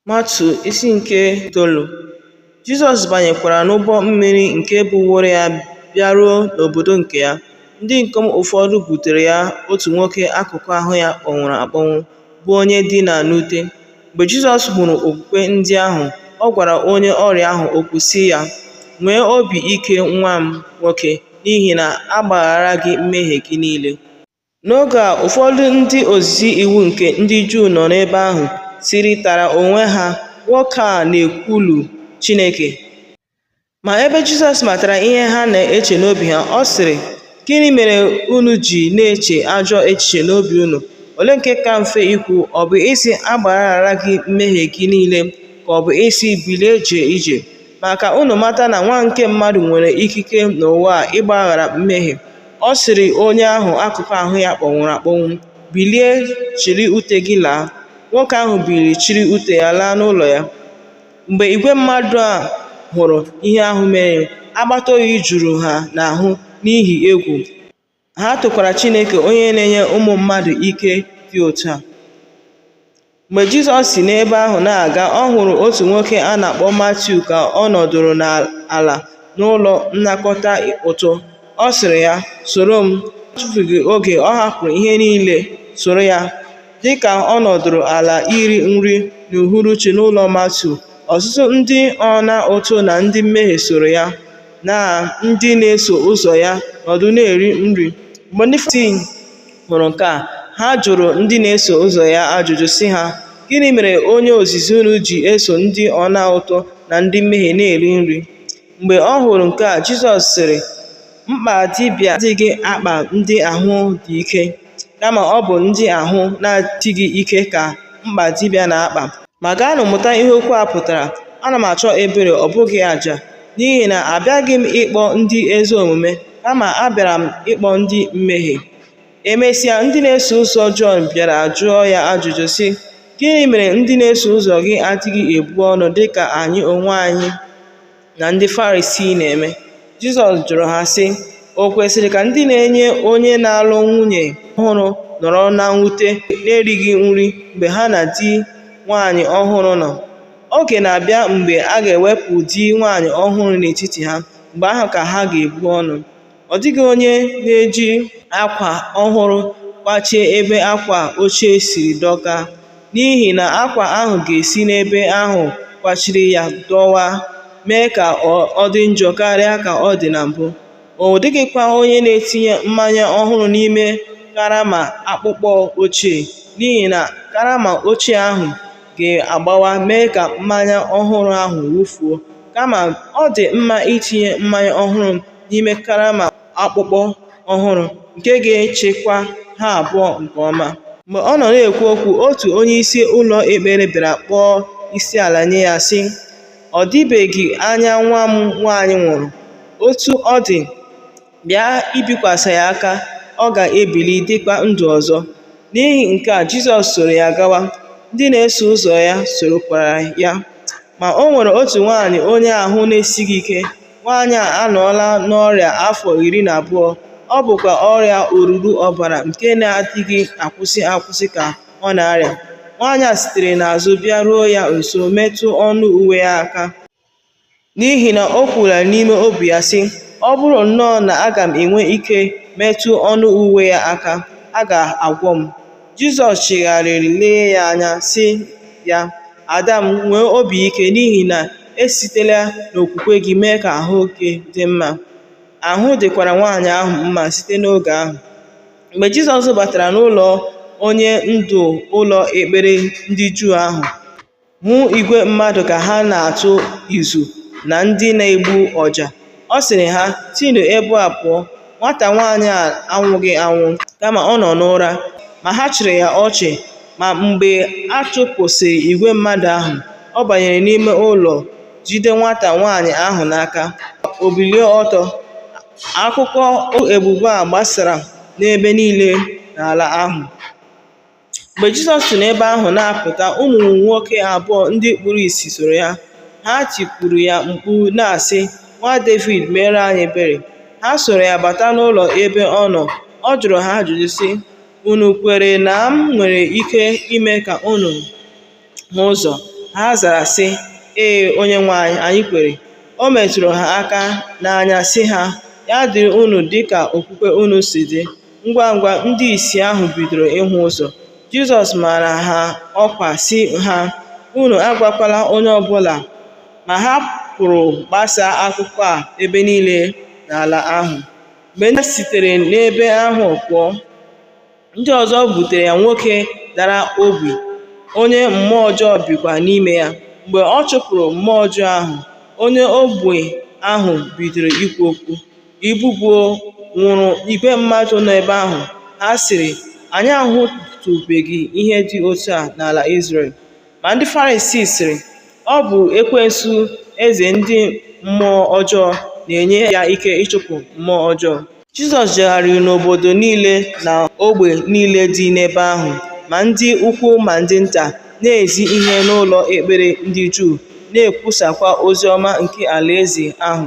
Matiu isi nke itoolu Jizọs banyekwara n'ụgbọ mmiri nke buworo ya bịaruo n'obodo nke ya. Ndị ikom ụfọdụ butere ya otu nwoke akụkụ ahụ ya kpọnwụrụ akpọnwụ, bụ onye dina n'ute. Mgbe Jizọs hụrụ okwukwe ndị ahụ, ọ gwara onye ọrịa ahụ okwu sị ya, Nwee obi ike nwa m nwoke, n'ihi na a gbaghara gị mmehie gị niile. N'oge a, ụfọdụ ndị ozizi iwu nke ndị Juu nọ n'ebe ahụ sịrịtara onwe ha, Nwoke a na-ekwulu Chineke. Ma ebe Jizọs matara ihe ha na-eche n'obi ha, ọ sịrị, Gịnị mere unu ji na-eche ajọ echiche n'obi unu? Olee nke ka mfe ikwu, ọ bụ ịsị, A gbaghara gị mmehie gị niile, ka ọ bụ ịsị, Bilie jee ije? Ma ka unu mata na Nwa nke Mmadụ nwere ikike n'ụwa a ịgbaghara mmehie. Ọ sịrị onye ahụ akụkụ ahụ ya kpọnwụrụ akpọnwụ, Bilie, chịrị ute gị laa. Nwoke ahụ biliri chịrị ute ya laa n'ụlọ ya. Mgbe igwe mmadụ a hụrụ ihe ahụ mere, akpata oyi juru ha n'ahụ n'ihi egwu. Ha tokwara Chineke onye na-enye ụmụ mmadụ ike dị otu a. Mgbe Jizọs si n'ebe ahụ na-aga, ọ hụrụ otu nwoke a na-akpọ Matiu ka ọ nọdụrụ n'ala n'ụlọ nnakọta ụtụ. Ọ sịrị ya, Soro m. N'atụfughị oge, ọ hapụrụ ihe niile soro ya. Dị ka ọ nọdụrụ ala iri nri n'uhuruchi n'ụlọ Matiu, ọtụtụ ndị ọna ụtụ na ndị mmehie soro ya, na ndị na-eso ụzọ ya nọdụ na-eri nri. Mgbe ndị Farisii hụrụ nke a, ha jụrụ ndị na-eso ụzọ ya ajụjụ sị ha, Gịnị mere onye ozizi unu ji eso ndị ọna ụtụ na ndị mmehie na-eri nri? Mgbe ọ hụrụ nke a, Jizọs sịrị, Mkpa dibịa adịghị akpa ndị ahụ dị ike, kama ọ bụ ndị ahụ na-adịghị ike ka mkpa dibịa na-akpa. Ma gaanụ mụta ihe okwu a pụtara, Ana m achọ ebere, ọ bụghị aja, n'ihi na abịaghị m ịkpọ ndị ezi omume, kama abịara m ịkpọ ndị mmehie. Emesịa, ndị na-eso ụzọ Jọn bịara jụọ ya ajụjụ sị, Gịnị mere ndị na-eso ụzọ gị adịghị ebu ọnụ dị ka anyị onwe anyị na ndị Farisii na-eme? Jizọs jụrụ ha sị, O kwesịrị ka ndị na-enye onye na-alụ nwunye ọhụrụ nọrọ na mwute na-erighị nri mgbe ha na di nwaanyị ọhụrụ nọ? Oge na-abịa mgbe a ga-ewepụ di nwaanyị ọhụrụ n'etiti ha, mgbe ahụ ka ha ga-ebu ọnụ ọ dịghị onye na-eji akwa ọhụrụ kwachie ebe akwa ochie siri dọkaa n'ihi na akwa ahụ ga-esi n'ebe ahụ kwachiri ya dọwaa mee ka ọ dị njọ karịa ka ọ dị na mbụ ọ dịghịkwa onye na-etinye mmanya ọhụrụ n'ime karama akpụkpọ ochie n'ihi na karama ochie ahụ ga-agbawa mee ka mmanya ọhụrụ ahụ wụfuo kama ọ dị mma itinye mmanya ọhụrụ n'ime karama akpụkpọ ọhụrụ nke ga-echekwa ha abụọ nke ọma. Mgbe ọ nọ na-ekwu okwu, otu onyeisi ụlọ ekpere bịara kpọọ isi ala nye ya, sị, Ọ dịbeghị anya nwa m nwaanyị nwụrụ. Otu ọ dị, Bịa ibikwasị ya aka, ọ ga-ebili dịkwa ndụ ọzọ. N'ihi nke a Jizọs soro ya gawa, ndị na-eso ụzọ ya sorokwara ya. Ma o nwere otu nwaanyị onye ahụ na-esighị ike. Nwaanyị a anọọla n'ọrịa afọ iri na abụọ, ọ bụkwa ọrịa oruru ọbara nke na-adịghị akwụsị akwụsị ka ọ na-arịa. Nwaanyị a sitere n'azụ bịaruo ya nso metụ ọnụ uwe ya aka. N'ihi na o kwuola n'ime obi ya sị, Ọ bụrụ nnọọ na aga m enwe ike metụ ọnụ uwe ya aka, a ga-agwọ m. Jizọs chigharịrị lee ya anya sị ya, Ada m, nwee obi ike n'ihi na esitela n'okwukwe gị mee ka ahụ gị dị mma. Ahụ dịkwara nwaanyị ahụ mma site n'oge ahụ. Mgbe Jizọs batara n'ụlọ onye ndu ụlọ ekpere ndị Juu ahụ, Hụ igwe mmadụ ka ha na-atụ ụzụ na ndị na-egbu ọja. Ọ sịrị ha, Sinụ ebe a pụọ! Nwata nwaanyị a anwụghị anwụ, kama ọ nọ n'ụra. Ma ha chịrị ya ọchị. Ma mgbe a chụpụsịrị igwe mmadụ ahụ, ọ banyere n'ime ụlọ jide nwata nwaanyị ahụ n'aka, o bilie ọtọ. Akụkọ ebube a gbasara n'ebe niile n'ala ahụ. Mgbe Jizọs si n'ebe ahụ na-apụta, ụmụ nwoke abụọ ndị kpuru ìsì soro ya. Ha tikuru ya mkpu na-asị, Nwa Devid, meere anyị ebere. Ha soro ya bata n'ụlọ ebe ọ nọ. Ọ jụrụ ha ajụjụ sị, Unu kwere na m nwere ike ime ka unu hụ ụzọ. Ha zara sị, Ee, Onyenwe anyị, anyị kwere. O metụrụ ha aka n'anya sị ha, Ya dịrị unu dị ka okwukwe unu si dị. Ngwa ngwa ndị ìsì ahụ bidoro ịhụ ụzọ. Jizọs mara ha ọkwa sị ha, Unu agwakwala onye ọ bụla. Ma ha pụrụ gbasaa akụkọ a ebe niile n'ala ahụ. Mgbe ndị sitere n'ebe ahụ pụọ, Ndị ọzọ butere ya nwoke dara ogbi, onye mmụọ ọjọọ bikwa n'ime ya. Mgbe ọ chụpụrụ mmụọ ọjọọ ahụ, onye ogbi ahụ bidoro ikwu okwu. Ibubo nwụrụ igwe mmadụ nọ ebe ahụ. Ha sịrị, Anyị ahụtụbeghị ihe dị otu a n'ala Izrel. Ma ndị Farisii sịrị, Ọ bụ ekwensu eze ndị mmụọ ọjọọ na-enye ya ike ịchụpụ mmụọ ọjọọ. Jizọs jegharịrị n'obodo niile na ogbe niile dị n'ebe ahụ, ma ndị ukwu ma ndị nta, na-ezi ihe n'ụlọ ekpere ndị Juu, na-ekwusakwa ozi ọma nke Alaeze ahụ.